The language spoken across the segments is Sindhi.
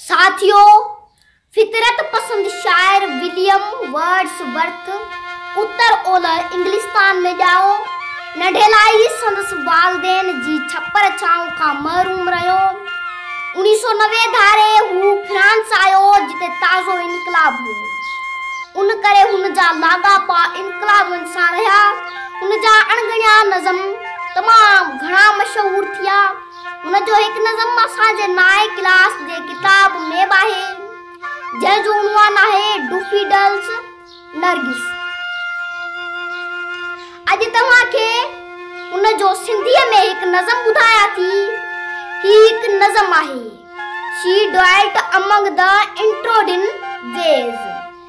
ساٿيو! فطرت پسند شاعر وليم ورڊس ورٿ اتر اولهه انگلستان ۾ ڄائو. ننڍي لاء ئي سندس والدين جي ڇپر ڇانو کان محروم رهيو. اڻيهه سؤ نوي ڌاري هو فرانس آيو جتي تازو انقلاب هو. ان ڪري هن جا لاڳاپا انقلابين سان رهيا. هن جا اڻڳڻيا نظم تمام گهڻا مشهور ٿيا. ان جو هڪ نظم اسان جي نائين ڪلاس جي ڪتاب ۾ به آهي جنهن جو عنوان آهي ڊوفي ڊلس نرگس اڄ توهان کي ان جو سنڌي ۾ هڪ نظم ٻڌايا ٿي هي هڪ نظم آهي شي ڊوائلٽ امنگ دا انٽروڊن ويز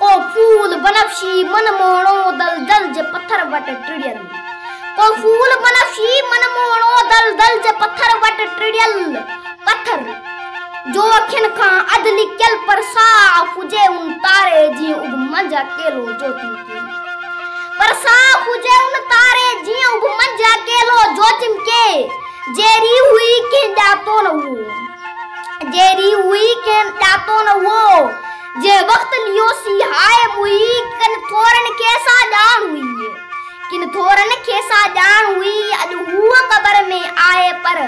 ڪو ڦول بنفشي من موهڻو دلدل جي پٿر وٽ ٽڙيل ڪو ڦول بنفشي من موهڻو دلدل جي پٿر وٽ ٽڙيل پٿر جو اکين کان اڌ لڪيل پر صاف هجي ان تاري جي اڀ منجهه اڪيلو جوتي پر صاف هجي ان تاري جي اڀ منجهه اڪيلو جوتي ڪي جيري هئي ڪنهن ڄاتو نه هو جيري هئي ڪنهن ڄاتو نه هو جي وقت نيوسي هاء ۾ هئي، ڪن ٿورن کي سا ڄاڻ هئي. ڪن ٿورن کي سا ڄاڻ هئي. اڄ هوء قبر ۾ آهي پر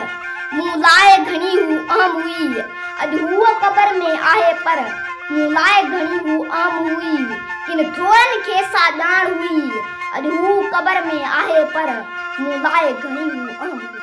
مون لاء گهڻي هو اهم هئي. اڄ هوء قبر ۾ آهي پر مون لاء گهڻي هو اهم هئي. ڪن ٿورن کي سا ڄاڻ هئي. اڄ هوء قبر ۾ آهي پر مون لاء گهڻي هو اهم هئي.